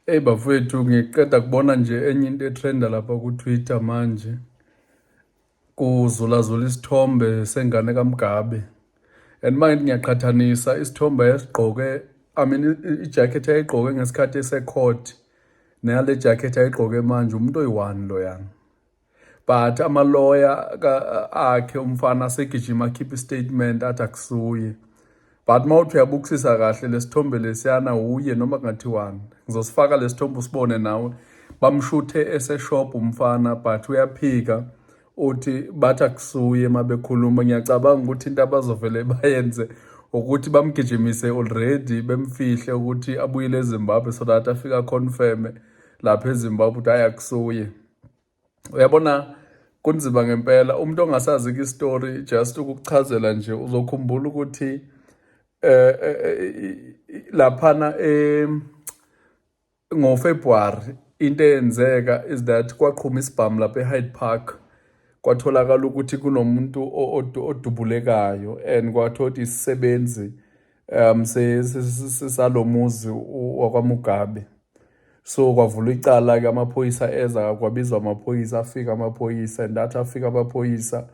Eyi bafowethu ngiqeda kubona nje enye into etrenda lapha ku-Twitter manje kuzulazula isithombe sengane kaMgabe and manje ngiyaqhathanisa isithombe esigqoke I mean i-jacket ayigqoke ngesikhathi esecourt neyale jacket ayigqoke manje umuntu oyi-one loyana but amaloya akhe umfana asegijima akhiphe istatement athi akusuye but uma uthi uyabukusisa kahle lesithombe lesiyana uye noma kungathiwani ngizosifaka lesithombe usibone nawe bamshuthe eseshop umfana but uyaphika uthi bathi akusuye uma bekhuluma ngiyacabanga ukuthi into abazovele bayenze ukuthi bamgijimise already bemfihle ukuthi abuyele ezimbabwe so that afika confirme lapha ezimbabwe ukuthi ayi akusuye uyabona kunzima ngempela umuntu ongasazi ke story just ukukuchazela nje uzokhumbula ukuthi eh, eh, eh laphana eh ngo February into eyenzeka is that kwaqhuma isibhamu lapha eHyde Park kwatholakala ukuthi kunomuntu odubulekayo and kwathothi isisebenzi um sisalomuzi wakwaMugabe so kwavula icala ke amaphoyisa eza kwabizwa amaphoyisa afika amaphoyisa and athi afika amaphoyisa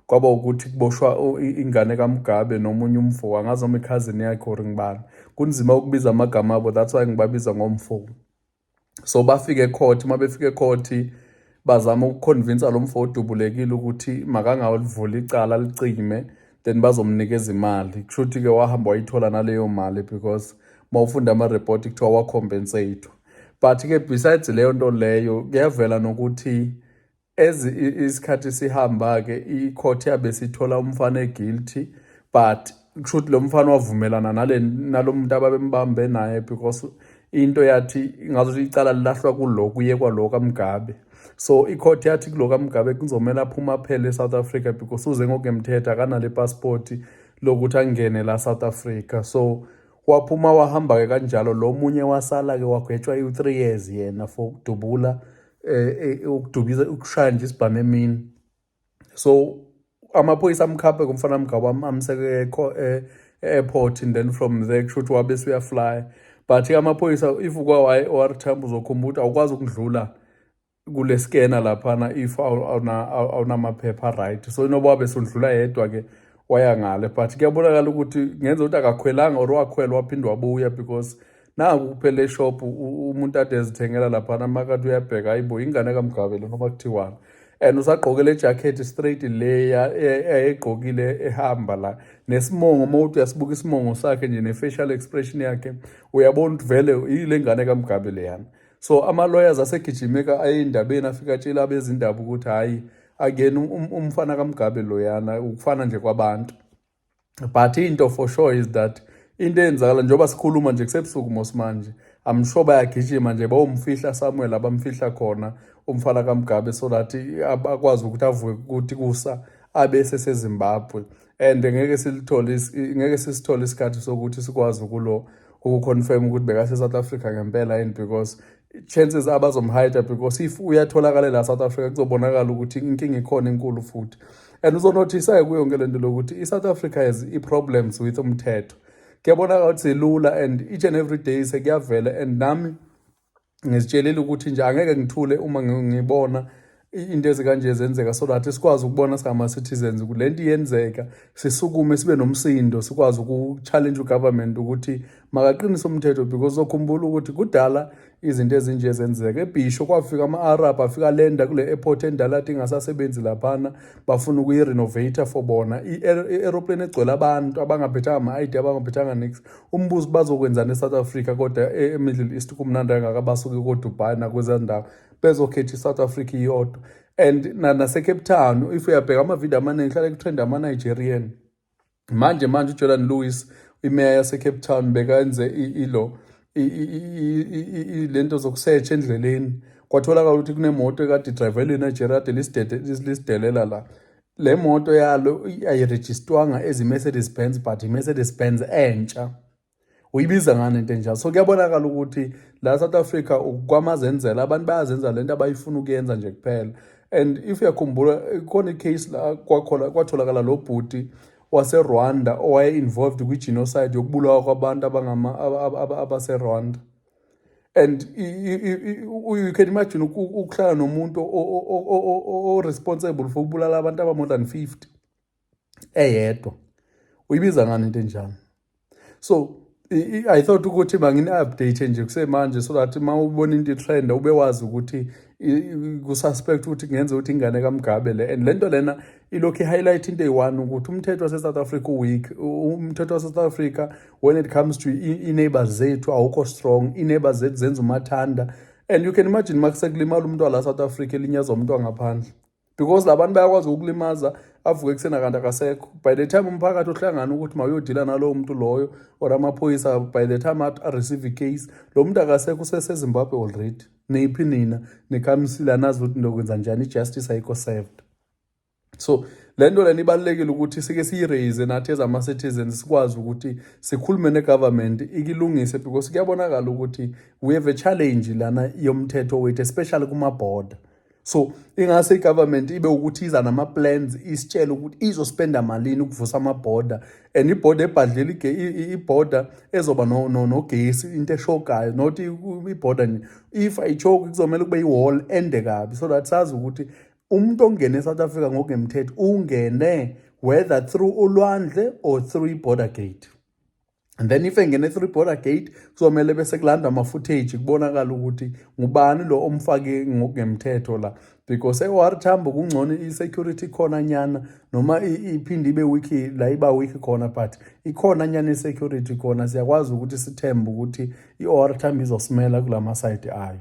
kwaba ukuthi kuboshwa ingane kaMugabe nomunye umfo angazi noma ikhazini yakhe or ngibani kunzima ukubiza amagama abo that's why ngibabiza ngomfo so bafike ecourt uma befika ecourt bazama ukuconvinsa lo mfo odubulekile ukuthi makangawulivula icala licime then bazomnikeza imali kusho ukuthi-ke wahamba wayithola naleyo mali because uma ufunda ama-report kuthiwa wacompensate but-ke besides leyo nto leyo kuyavela nokuthi As isikhathi sihamba-ke i-court yabe sithola umfana e-guilty but kushuthi lo mfana wavumelana nalo muntu ababembambe naye because into yathi ngazothi icala lilahlwa kulo kuyekwa lo kamgabe so i-court yathi kulo kamgabe kuzomele aphume aphele e-south africa because uze ngokungemthetho akanale pasipoti lokuthi angene la south africa so waphuma wahamba-ke kanjalo lo munye wasala-ke wagwetshwa i-three years yena for ukudubula eh, eh ukudukisa ukushaya nje isibhamu emini so amaphoyisa amkhaphe kumfana mgaba amseke eh, e-airport and then from there kusho ukuthi wabe suyaflya but amaphoyisa if ukwa-yr tamp uzokhumbula ukuthi awukwazi ukudlula kule skena laphana if awunamaphepha right so inoba wabe sundlula yedwa-ke waya ngale but kuyabonakala ukuthi ngenza ukuthi akakhwelanga or wakhwela waphinde wabuya because naku kuphela eshop umuntu ade ezithengela laphana amakati uyabheka hayi bo ingane kamgabe lona noma kuthiwani and usagqoke le jacket straight leya ayegqokile e, ehamba la nesimongo uma uthi uyasibuka isimongo sakhe nje ne-facial expression yakhe uyabona ukuthi vele yile ngane kamgabe leyana so ama-lawyers asegijimeka aye endabeni afike atshela abezindaba ukuthi hhayi akuyena um, um, umfana kamgabe loyana ukufana nje kwabantu but into for sure is that into eyenzakala njengoba sikhuluma nje kusebusuku mosimanje I'm sure bayagijima nje bawumfihla Samuel abamfihla khona umfana kaMgabe so that akwazi ukuthi avuke ukuthi kusa abe seseZimbabwe and ngeke silithole ngeke sisithole isikhathi sokuthi sikwazi ukulo ukuconfirm ukuthi bekase South Africa ngempela yini because chances abazomhayida because if uyatholakala la South Africa kuzobonakala ukuthi inkinga ikhona enkulu futhi and uzonothisa-ke kuyo yonke le nto lokuthi i-south africa has i-problems with umthetho kuyabonakala ukuthi silula and each and every day sekuyavela and nami ngizitshelile ukuthi nje angeke ngithule uma ngibona into ezikanje zenzeka so that sikwazi ukubona singama-citizens ukuthi le nto iyenzeka sisukume sibe nomsindo sikwazi uku-challenge ugovernment ukuthi makaqinise umthetho because zokhumbula ukuthi kudala izinto ezinje zenzeka ebhisho kwafika ama-arab afika lenda kule airport endala athi ingasasebenzi laphana bafuna ukuyi-renovator for bona i-aeroplane egcwele abantu abangaphethanga ama-id abangaphethanga nix umbuzo bazokwenzani e-south africa kodwa e-middle east kumnandi angaka basuke kodubai nakwezaa ndawo bezokhetha i-south africa iyodwa and nasecape town if uyabheka amavidiyo amaningi hlale kutrend ama-nigerian manje manje ujordan lewis imeya yasecape town bekenze ilo lento zokusetsha endleleni kwatholakala ukuthi kunemoto ekade idrive elinejeria kade lisidelela la le moto yalo ayirejistwanga ezi-mercedes benz but i-mercedes benz entsha uyibiza ngani into enjalo so kuyabonakala ukuthi la south africa kwamazenzela abantu bayazenza le nto abayifuna ukuyenza nje kuphela and if uyakhumbula khona icase la kwatholakala lo bhuti waserwanda owaye-involved kwi-genocide yokubulawa kwabantu abaserwanda and you can imagine ukuhlala nomuntu o-responsible for ukubulala abantu aba-more than fifty eyedwa uyibiza ngani into enjani so i thought ukuthi mangini update nje kusemanje so that uma ubona into trend ube wazi ukuthi ku suspect ukuthi kungenza ukuthi ingane kaMgabe le and lento lena ilokhu highlight into eyi-one ukuthi umthetho wase South Africa weak umthetho wase South Africa when it comes to i neighbors zethu awukho strong i neighbors zethu zenza umathanda and you can imagine makusekulimala umuntu wala South Africa elinyazwa umuntu wangaphandle because labantu bayakwazi ukulimaza avuke kusena kanti akasekho by the time umphakathi ohlangana ukuthi mawuyodila nalowo muntu loyo or amaphoyisa by the time areceive case lo muntu akasekho usesezimbabwe already niphi nina nikhamisile anazi ukuthi ndokwenza njani i-justice ayikho served so le nto lena ibalulekile ukuthi sike siyiraise nathi as ama-citizens sikwazi ukuthi sikhulume ne-government ikilungise because kuyabonakala ukuthi we have a challenge lana yomthetho wethu especially kuma-border so ingase i-government ibe ukuthi iza nama-plans isitshele ukuthi izospenda malini ukuvusa ama-border and ibhoda ebhadlela ibhoda ezoba nogesi into eshokayo not ibhoda nje if ayishoki kuzomele kube i-wall ende kabi so that sazi ukuthi umuntu ongene e-south africa ngokungemthetho ungene whether through ulwandle or through i-border gate and then if engene through border gate kuzomele bese kulandwa ama-footage kubonakala ukuthi ngubani lo omfake ngokungemthetho la because e-or tambo kungcono i-security khona nyana noma iphinde ibe wiki la iba wiki khona but ikhona nyana i-security khona siyakwazi ukuthi sithembe ukuthi i-or tambo izosimela kula masayidi ayo